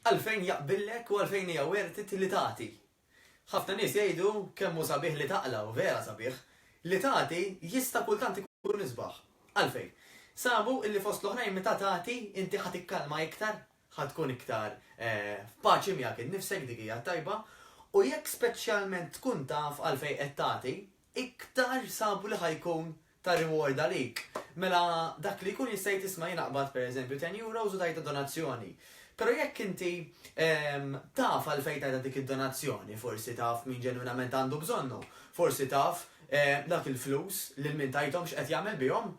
Għalfejn jaqbillek u għalfejn hija worth it li tagħti? Ħafna nies jgħidu kemm hu sabiħ li taqla' u vera sabiħ. Li tagħti jista' kultant ikun isbaħ. Għalfejn? Sabu li fost l-oħrajn meta tagħti inti ħa tikkalma iktar, ħa tkun iktar f'paċi miegħek innifsek, dik hija t-tajba, u jekk speċjalment tkun taf għalfejn qed tagħti, iktar sabu li ħa jkun ta' reward għalik, mela dak li jkun jista' jgħid isma' jien aqbad pereżempju ten euros u tgħidha donazzjoni. Però jekk inti taf għalfejn tgħidha dik id-donazzjoni, forsi taf min ġenwinament għandu bżonnu, forsi taf dak il-flus lil min tajthom x'qed jagħmel bihom,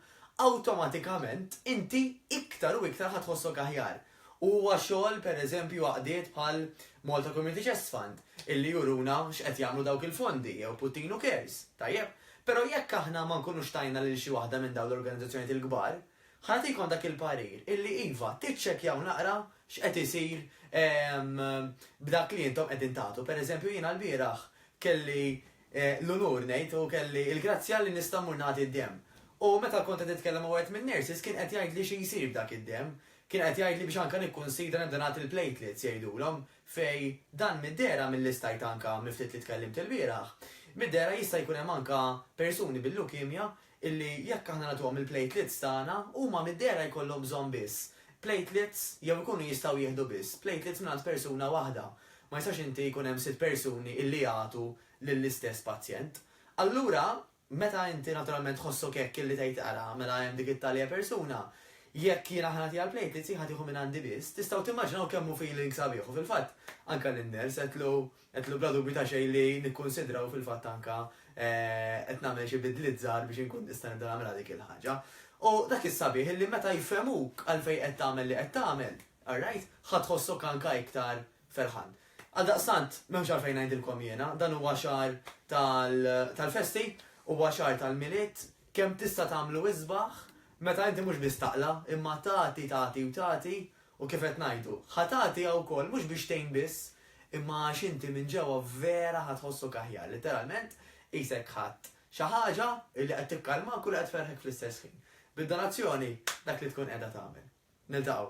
awtomatikament inti iktar u iktar ħa tħossok aħjar. U huwa xogħol, per eżempju, għaqdiet bħal Malta Community Chest Fund, illi juruna x'qed jagħmlu dawk il-fondi, jew Puttinu Cares, tajjeb. Però jekk aħna ma nkunux tajna lil xi waħda minn dawn l-organizzazzjonijiet il-kbar, ħa nagħtikom dak il-parir illi iva, tiċċekkjaw naqra x'qed isir b'dak li intom qegħdin tagħtu. Per eżempju, jiena lbieraħ kelli l-unur, ngħid, u kelli l-grazzja li nista' mmur nagħti d-demm. U meta kont qed nitkellem ma' wieħed min-nurses kien qed jgħidli xi jsir b'dak id-demm. Kien qed jgħidli biex anke nikkunsidra nibda nagħti l-platelets, jgħidulhom, fej, dan mid-dehra milli stajt anke mill-ftit li tkellimt ilbieraħ, mid-dehra jista' jkun hemm anke persuni bil-leukemia illi jekk aħna nagħtuhom il-platelets tagħna huma mid-dehra jkollhom bżonn biss platelets jew ikunu jistgħu jieħdu biss platelets mingħand persuna waħda. Ma jistax inti jkun hemm sitt persuni illi jagħtu lill-istess pazjent. Allura Meta inti naturalment tħossok hekk illi tgħid ara mela hemm dik it-talja persuna, jekk jiena ħa nagħtiha l-platelets hi ħa tieħu minn għandi biss, tistgħu timmaġinaw kemm hu feeling sabiħ u fil-fatt anke lin-nurse għedtlu għedtlu bla dubju ta' xejn li nikkunsidra u fil-fatt anke qed nagħmel xi bidliet żgħar biex inkun nista' nibda nagħmilha dik il-ħaġa. U dak is-sabiħ illi meta jfhemuk għalfejn qed tagħmel li qed tagħmel, alright, ħa tħossok anke iktar ferħan. Għaldaqstant, m'hemmx għalfejn ngħidilkom jiena, dan huwa xahar tal-festi, huwa xahar tal-Milied, kemm tista' tagħmlu isbaħ meta inti mhux biss taqla' imma tagħti, tagħti u tagħti u kif qed ngħidu, ħa tagħti wkoll mhux biex tgħin biss imma għax inti minn ġewwa vera ħa tħossok aħjar, litteralment qisek ħadt xi ħaġa li qed tikkalmak u li qed tferrħek fl-istess ħin. Bid-donazzjoni dak li tkun qiegħda tagħmel. Niltaqgħu.